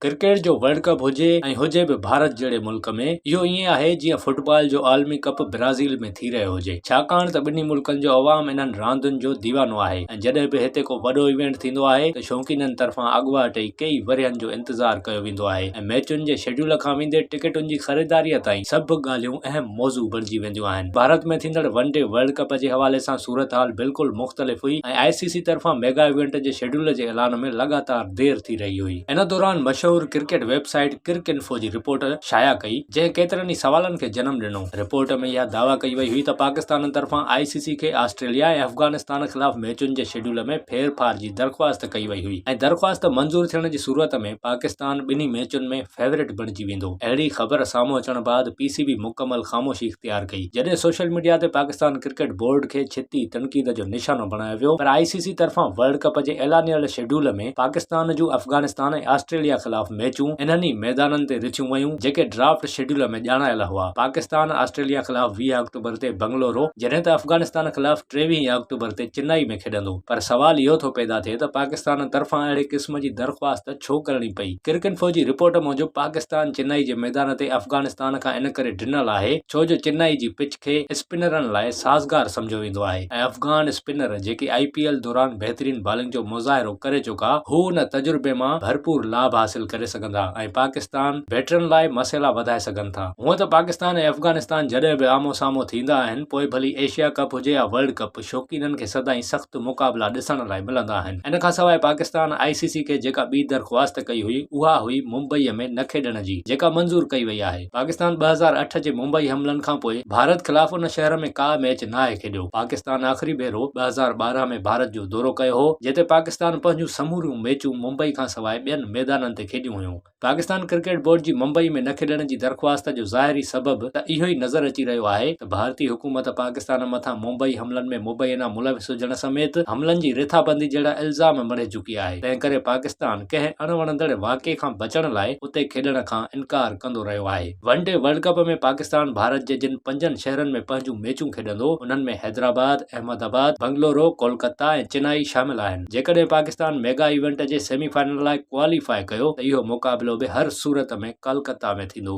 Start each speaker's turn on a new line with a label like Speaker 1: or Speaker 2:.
Speaker 1: Cricket جو world cup هجي ۽ هجي به ڀارت جهڙي ملڪ ۾ اهو ائين آهي جيئن فٽبال جو عالمي ڪپ برازيل ۾ ٿي رهيو هجي ڇاڪاڻ ته ٻنهي ملڪن جو عوام انهن راندين جو ديوانو آهي ۽ جڏهن به هتي ڪو وڏو ايونٽ ٿيندو آهي ته شوقينن طرفان اڳواٽ ئي ڪيئي ورهين جو انتظار ڪيو ويندو آهي ۽ ميچن جي شيڊيول کان ويندي ٽڪيٽن جي خريداريء تائين سڀ ڳالهيون اهم موضوع بڻجي وينديون آهن ڀارت ۾ ٿيندڙ ون ڊي ورلڊ ڪپ جي حوالي سان صورتحال بلڪل مختلف هئي ۽ آء سي سي طرفان ميگا ايونٽ جي شيڊيول جي اعلان ۾ لڳاتار دير ٿي رهي هئي ان دوران مشهور cricket website Cricinfo جي رپورٽ شايع ڪئي، جنهن ڪيترن ئي سوالن کي جنم ڏنو. رپورٽ ۾ اها دعويٰ ڪئي وئي هئي ته پاڪستان طرفان آء سي سي کي آسٽريليا ۽ افغانستان خلاف ميچن جي شيڊيول ۾ ڦير ڦار جي درخواست ڪئي وئي هئي ۽ درخواست منظور ٿيڻ جي صورت ۾ پاڪستان ٻنهي ميچن ۾ فيورٽ بڻجي ويندو. اهڙي خبر سامهون اچڻ بعد پي سي بي مڪمل خاموشي اختيار ڪئي، جڏهن سوشل ميڊيا تي پاڪستان ڪرڪيٽ بورڊ کي ڇتي تنقيد جو نشانو بڻايو ويو پر آء سي سي طرفان ورلڊ ڪپ جي اعلانيل شيڊيول ۾ ۽ پاڪستان جون افغانستان ۽ آسٽريليا خلاف ميچون انهن ئي ميدانن تي رٿيون ويون جيڪي ڊرافٽ شيڊيول ۾ ڄاڻايل هئا پاڪستان آسٽريليا خلاف ويهه آڪٽوبر تي بنگلورو جڏهن ته افغانستان خلاف ٽيويهه ئي آڪٽوبر تي چنائي ۾ کيڏندو پر سوال اهو ٿو پيدا ٿئي ته پاڪستان طرفان اهڙي قسم جي درخواست ڇو ڪرڻي پئي ڪرڪنفو جي رپورٽ موجب پاڪستان چنائي جي ميدان تي افغانستان کان ان ڪري ڊنل آهي ڇو جو چنائي جي پچ کي اسپنرن لاء سازگار سمجهيو ويندو آهي ۽ افغان اسپنر جيڪي آء پي ايل دوران بهترين بالنگ جو مظاهرو ڪري چڪا هو ان تجربي مان ڀرپور لاڀ حاصل ڪري سگهندا ۽ پاڪستان بيٽرن لاء مسئلا وڌائي سگهن ٿا هونئن ته پاڪستان ۽ افغانستان جڏهن به آمهون سامهون ٿيندا آهن پوء ڀلي ايشيا ڪپ هجي يا ورلڊ ڪپ شوقينن کي سدائين سخت مقابلا ڏسڻ لاء ملندا آهن ان کان سواء پاڪستان آء سي سي کي جيڪا ٻي درخواست ڪئي هئي اها هئي ممبئي ۾ نه کيڏڻ جي جيڪا منظور ڪئي وئي آهي. پاڪستان ٻه هزار اٺ جي ممبئي حملن کانپوء ڀارت خلاف ان شهر ۾ ڪا ميچ ناهي کيڏيو. پاڪستان آخري ڀيرو ٻه هزار ٻارهن ۾ ڀارت جو دورو ڪيو هو، جتي پاڪستان پنهنجون سموريون ميچون ممبئي کانسواء ٻين ميدانن تي کيڏيون هيون. پاڪستان ڪرڪيٽ بورڊ جي ممبئي ۾ نه کيڏڻ جي درخواست جو ظاهري سبب ته اهو ئي نظر اچي رهيو آهي ته ڀارتي حڪومت پاڪستان مٿان ممبئي حملن ۾ مبينا ملوث هجڻ سميت حملن جي رٿابندي جهڙا الزام مڙهي چڪي آهي، تنهنڪري پاڪستان ڪنهن اڻوڻندڙ واقعي کان بچڻ لاء اتي کيڏڻ کان انڪار ڪندو رهيو آهي. One day world cup ۾ Pakistan Bharat جي جن پنجن شهرن ۾ پنهنجون ميچون کيڏندو انهن ۾ حيدرآباد، احمد آباد، بنگلورو، ڪولڪته ۽ چنائي شامل آهن. جيڪڏهن پاڪستان ميگا ايونٽ جي سيمي فائنل لاء ڪواليفاء ڪيو ته اهو مقابلو به هر صورت ۾ ڪلڪته ۾ ٿيندو.